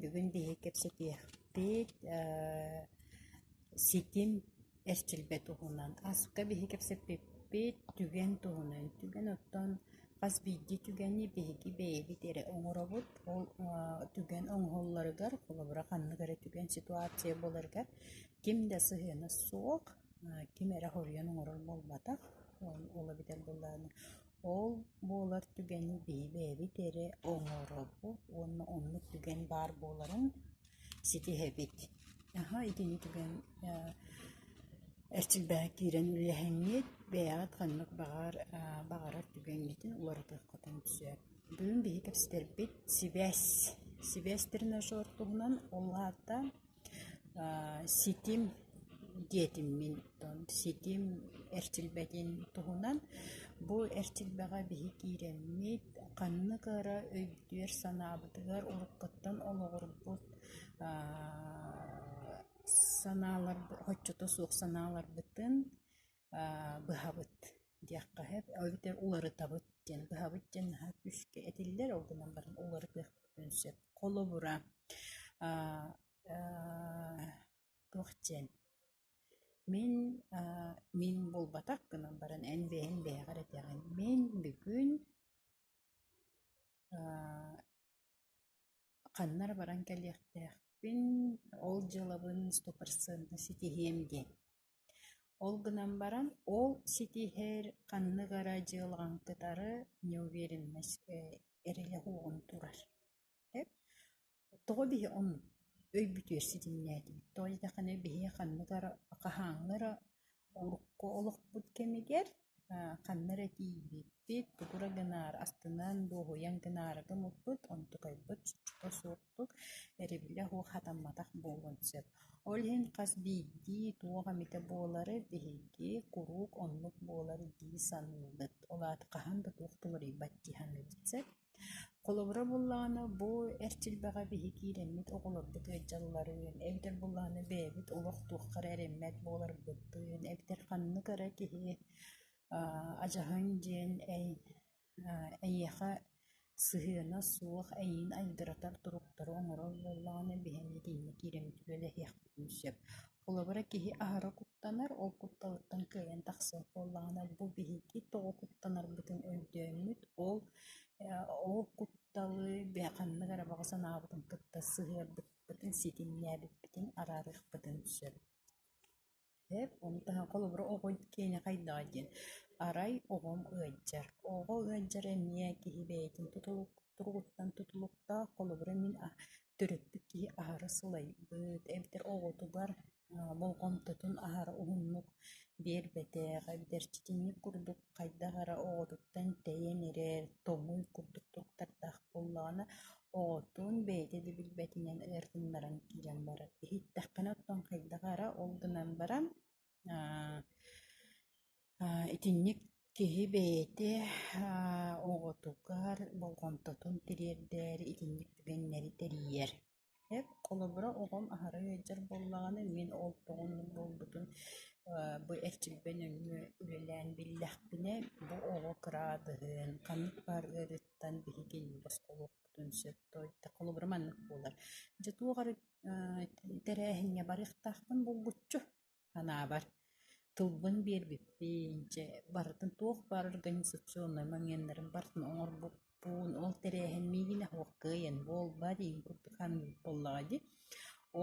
Бүгүн биһиги кэпсэтиэхпит ээ ситим эрчилбэт туһунан. Ааспыкка биһиги кэпсэппиппит түгэн туһунан. Түгэн оттон хас биирдии түгэни биһиги бэйэбит эрэ оҥоробут. Ол аа түгэн оҥоһулларыгар, холобура, ханнык эрэ түгэн ситуация буоларыгар ким да сыһыана суох, аа ким эрэ хоруйан оҥорор буолбатах. Ол ол эбэтэр былаана Ол буолар түгэни бэйэ-бэйэбит эрэ оҥоробут уонна оннук түгэн баар буоларын ситиһэбит. Наһаа итини түгэн аа эрчилбэһэ киирэн үллэһиҥҥит, бэйэҕит ханнык баҕар аа баҕарар түгэҥҥитин уларытыаххытын сөп. Бүгүн биһи кэпсэтэрбит сибээс. Сибээс тренажер туһунан ол аата Ситим диэтиммин ситим эрчилбэтин туһунан бу эрчилбэҕэ биһи киирэммит ханнык эрэ өйдүөр-санаабытыгар уруккуттан олоҕурбут санаалар, оччото суох санааларбытын быһабыт диэххэ эбэтэр уларытабыт диэн быһабыт диэн наһаа күүскэ этиллэр ол гынан баран уларытыахпытын сөп холобура туох диэн мин мин буолбатах гынан баран эн бэйэҥ бэйэҕэр этэҕин мин бүгүн ханна эрэ баран кэлиэхтээхпин ол дьыалабын сто процентно ситиһиэм диэн Ол гынан баран ол ситиһэр ханнык эрэ дьыалаҕын кытары неуверенноска эрийэ уоҕун турар тоҕо биһи оннук өйбүтүгэр ситимнээтибит тоҕо диэтэххинэ биһи ханнык эрэ хаһааҥҥы эрэ урукку олохпут кэмигэр ханна эрэ тиийбиппит, тугура гынаары, астынан дуоһуйан гынаары гыммыппыт, онтукайбыт чочута суохтук, эрибилэ оһуох хатамматах буолуон сөп. Ол иһин хас биирдии туох эмитэ буолары биһиги куруук оннук буолар дии саныыбыт. Ол аата хаһан да туох да уларыйбат дии саныыбыт. Сөп? Холобура буоллаҕына, бу эр дьилбэҕэ биһи киирэммит оҕолорбут ыалдьалларын, эбэтэр буоллаҕына бэйэбит олох туохха эрэ эрэммэт буоларбыппын, эбэтэр ханнык эрэ киһи адьаһын диэн эйиэхэ сыһыана суох эйиин айдыратар туруктары оҥорор буоллаҕына биһи итииннэ киирэммит үлэлэһиэхпитин сөп. Холобура, киһи аһара куттанар, ол кутталыттан кыайан тахсыах буоллаҕына, бу биһиги тоҕо куттанарбытын өйдөөммүт, ол ол кутталы ханнык эрэ баҕа санаабытын кытта сыһыарбыппытын, ситимнээбиппитин араарыахпытын сөп. Сөп. Ону таһынан холобура, оҕо киэнэ хайдаҕый диэн. Арай оҕом ыалдьар. Оҕо ыалдьар эмиэ киһи бэйэтин тутулук туругуттан тутулуктаах. Холобура, мин төрөппүт киһи аһара сылайбыт, эбэтэр оҕотугар болҕомтотун аһара уһуннук биэрбэтэх, эбэтэр чичиҥник курдук хайдах эрэ оҕотуттан тэйэн эрэр, тоҥуй курдук туттардаах буоллаҕына, оҕотун бэйэтэ да билбэтинэн ытыннаран киирэн барар. Иһиттэххинэ, оттон хайдах эрэ ол гынан баран, Итинник киһи бэйэтэ оҕотугар болҕомтотун тириэрдэр, итинник түгэннэри тэрийэр. Холобура, оҕом аһара ыалдьар буоллаҕына, мин ол тоҕо оннук буолбутун бу эрчимпэ нөҥүө үлэлээн биллэхпинэ, бу оҕо кыраадыһын, ханнык баар ыарыыттан биһигини босхолуохпутун сөп да, холобура маннык буолар. Дьэ, туох эрэ тэрээһиҥҥэ барыахтаахпын булгуччу Санаабар, тылбын биэрбиппин, чэ, барытын туох баар организационнай маҥиэннэрин барытын оҥорбуппун, ол тэрээһин миигинэ «Һуохкыай эн буолба» диин курдук ханнык буоллаҕай дии.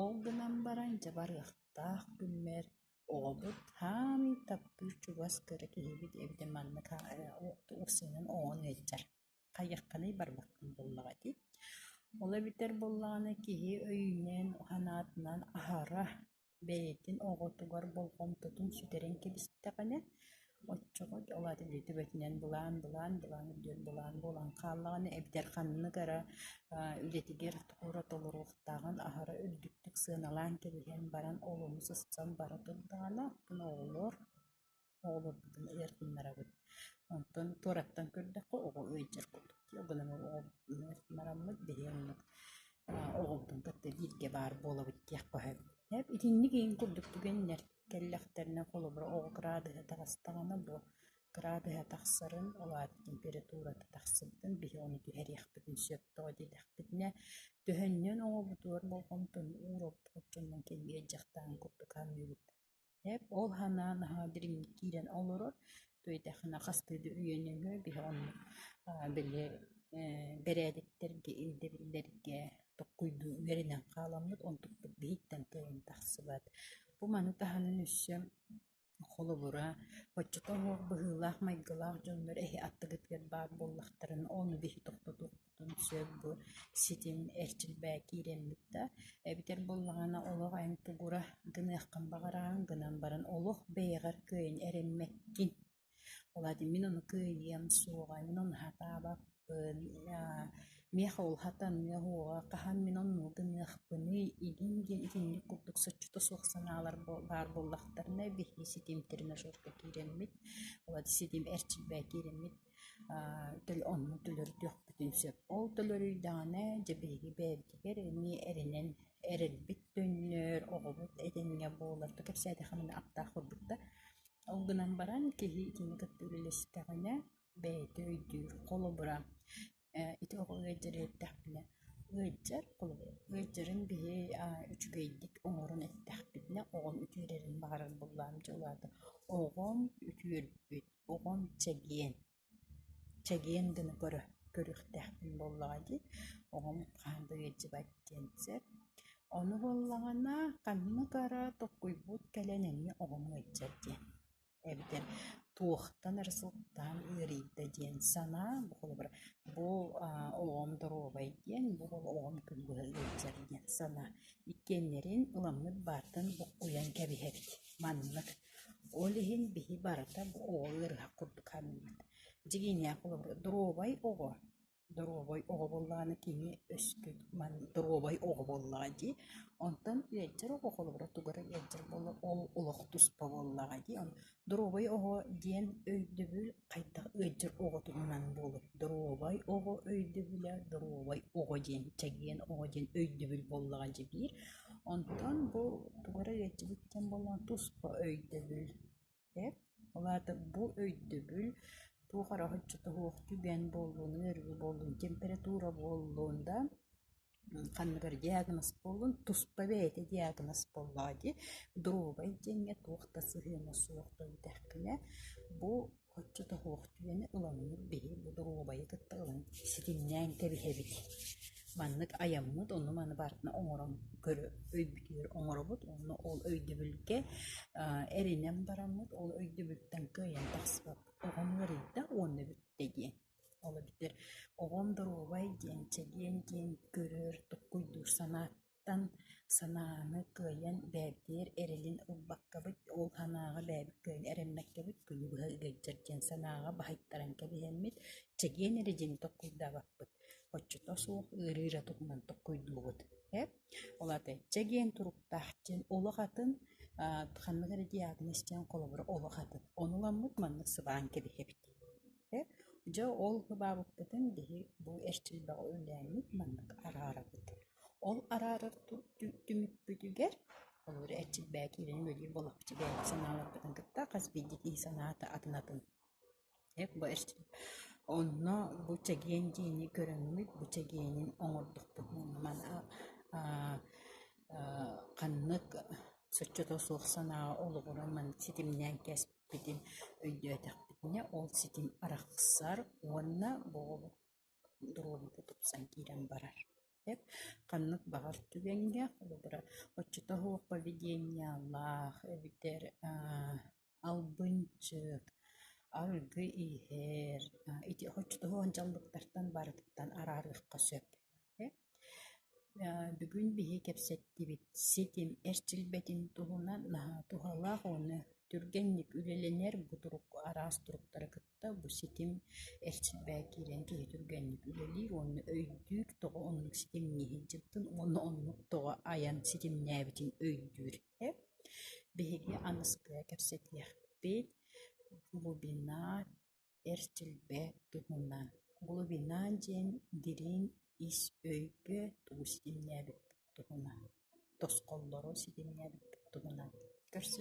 Ол гынан баран, дьэ, барыахтаах күммэр оҕобут хаамыы таптыыр чугас кыра киһибит эбитэ маннык охсуунан оҥон ыалдьар хайыаххыный барбаккын буоллаҕа дии. Ол эбэтэр буоллаҕына киһи өйүнэн, санаатынан аһара, бэйэтин оҕотугар болҕомтотун сүтэрэн кэбистэҕинэ оччоҕо ол аата дии төбөтүнэн былаан, былаан, былаан үрдүгэр былаан буолан хааллаҕына эбэтэр ханнык эрэ үлэтигэр туора толоруохтааҕын аһара үрдүктүк сыаналаан кэбиһэн баран олону сыстан бара турдаҕына оттон оҕолор оҕолорбутун ыйар гыннарабыт. Онтон туораттан көрдөххө оҕо ыйдьар курдук туох гынан оҕобутун ыйнараммыт биһиги оннук оҕобутун кытта бииргэ баар буолабыт диэх баһыгыт. Итинник иһин курдук түгэннэр кэллэхтэринэ холобура оҕо кыраадыһа таҕыстаҕына бу кыраадыһа тахсарын, ол аата температурата тахсыбытын биһи ону түһэриэхпитин сөп тоҕо диэтэхпитинэ төһөннөн оҕобутугар болҕомтону ууроппут дьонун кэннигэр дьахтаан курдук аныыбыт Ээп ол санаан аһа дириҥник киирэн олорор, туйдэхинэ хастыы да үйэнэллэр биһи оннук аа били ээ бэрээдэктэргэ ирдэбиллэргэ токкуйдуу үөрэнэн хааламмыт, онтукпут биһиттэн тыйан тахсыбат. Бу маны таһынан өссө холобура, оччото быһыылаах-майгылаах дьоннор эһи аттыгытыгар баар буоллахтарына, ону биһи тохтотуохпут Оттон сөп бу ситим эрчилбэ киирэммит да, эбэтэр буоллаҕына олох эн тугура гыныаххын баҕараҕын гынан баран олох бэйэҕэр кыайан эрэммэккин. Ол аата мин ону кыайыам суоҕа, мин ону сатаабаппын, миэхэ ол сатаныа суоҕа, хаһан мин онно гыныахпыный игин диэн итинник курдук соччото суох санаалар баар буоллахтарына биһиги ситим тренажерга киирэммит. Ол аата ситим эрчилбэ киирэммит Төл онно төлөрдүөхпүтүн сөп. Ол төлөрүйдэҕинэ дьэ биһиги бэйэбитигэр эмиэ эрэнэн эрэлбит төннөр, оҕобут этэҥҥэ буолар. Тута кэпсээтэххэ маны аптаах курдук да. Ол гынан баран киһи итини кытта үлэлэстэҕинэ бэйэтэ өйдүүр, холобура Ити оҕо ыалдьар эрдэхпинэ ыалдьар ыалдьарын биһи үчүгэйдик оҥорон эттэхпитинэ оҕом үтүөрэрин баҕарар буллаам дьэ улаатан оҕом үтүөрбүт оҕом чэгиэн чэгиэн гына көрө көрүөхтээхпин буоллаҕа дии оҕом хаһан да ыалдьыбат диэн сөп ону буоллаҕына ханнык эрэ толкуйбут кэлэн эмиэ оҕом ыалдьар диэн эбитэ туохтан эрэ сылтаан ыарыйда диэн санаам холобура бу аа олоҕум доруобай диэн бу олоҕум күн быһа ыалдьар диэн санаа иккиэннэрин ыламмыт баартан буккуйан кэбиһэбит маннык ол иһин биһи барыта бу оҕо ыарыһах курдук саныыбыт дьиҥинээх холобура доруобай оҕо доруобай оҕо буоллаҕына кини өскө маны доруобай оҕо буоллаҕа дии онтон ыалдьар оҕо холобура тугара ыалдьар буоллар ол олох туспа буоллаҕа дии он доруобай оҕо диэн өйдөбүл хайдах ыалдьар оҕотунан буолуой доруобай оҕо өйдөбүлэ доруобай оҕо диэн чэгиэн оҕо диэн өйдөбүл буоллаҕа дии биир онтон бу тугара ыалдьыбыт диэн буоллаҕа туспа өйдөбүл Эр, ол аата бу өйдөбүл туох эрэ оччото суох түгэн буоллун, ыарыы буоллун, температура буоллун да ханныгар диагноз буоллун, туспа бэйэтэ диагноз буоллаҕа дии. Доруобай диэҥҥэ туох да сыһыана суох да бүтэхпинэ, бу оччото суох түгэни ыламмыт биһи бу доруобайы кытта ылан ситимнээн кэбиһэбит. Маннык айаммыт онну-маны барытын оҥорон көрө өйбүтүгэр оҥоробут уонна ол өйдөбүлгэ аа эрэнэн бараммыт, ол өйдөбүлтэн кыайан тахсыбат оҕом ыарыйда уонна бүттэ диэн. Ол эбэтэр оҕом доруобай диэн чэгиэн диэн көрөр, туккуйдуур санаа тан санааны кыайан бэйэбитигэр эрэлин ылбаккабыт, ол санааҕа бэйэбит кыайан эрэммэккэбит күнү быһа ыгайдьар диэн санааҕа баһыйтаран кэбиһэммит, чэгиэн эрэ дьиҥи толкуйдаабаппыт. Оччото суох ыарыыра туһунан толкуйдуубут ээ. Ол аата чэгиэн туруктаах диэн олох атын, аа ханнык эрэ дьиэ аатын истэн холобура олох атын. Ону ыламмыт маннык сыбаан кэбиһэбит ээ. Дьэ ол сыбаабыппытын биһи бу эрчил бөҕө үлээммит маннык араарабыт. Ол араарар түмүкпүтүгэр олору эрчилбээн киирэн үөрүйэ буоллахпытына бэйэбит санааларбытын кытта хас биирдии киһи санаата атын атын. Бу онно бу чэгиэн дьиэни көрөҥмүт, бу чэгиэнин оҥордохпут ханнык соччото суох санааҕа олоҕуран маннык ситимнээн кэспитин өйдөөтөхпүтүнэ ол ситим арахсар уонна бу доруобуйата тупсан киирэн барар. Эт ханнык баҕар түгэҥҥэ, холобура, оччото суох поведениялаах эбэтэр аа албынчык, арыгы иһэр, ити оччото суох дьаллыктартан барытыттан араарыахха сөп. Бүгүн биһи кэпсэттибит ситим эрчилбэтин туһунан наһаа туһалаах уонна түргэнник үлэлэнэр бу турук араас туруктары кытта бу ситим эрчилбээн киирэн киһи түргэнник үлэлиир уонна өйдүүр тоҕо оннук ситимҥэ сылдьыбытын уонна оннук тоҕо айан ситимнээбитин өйдүүр эһэ. Биһиги аныскыга кэпсэтиэхпит глубина Эр дьилбэ туһунан «Глубина» диэн дириҥ ис өйгө тугу ситимнээбит туһунан, тосхоллору ситимнээбит туһунан көрсүөххэ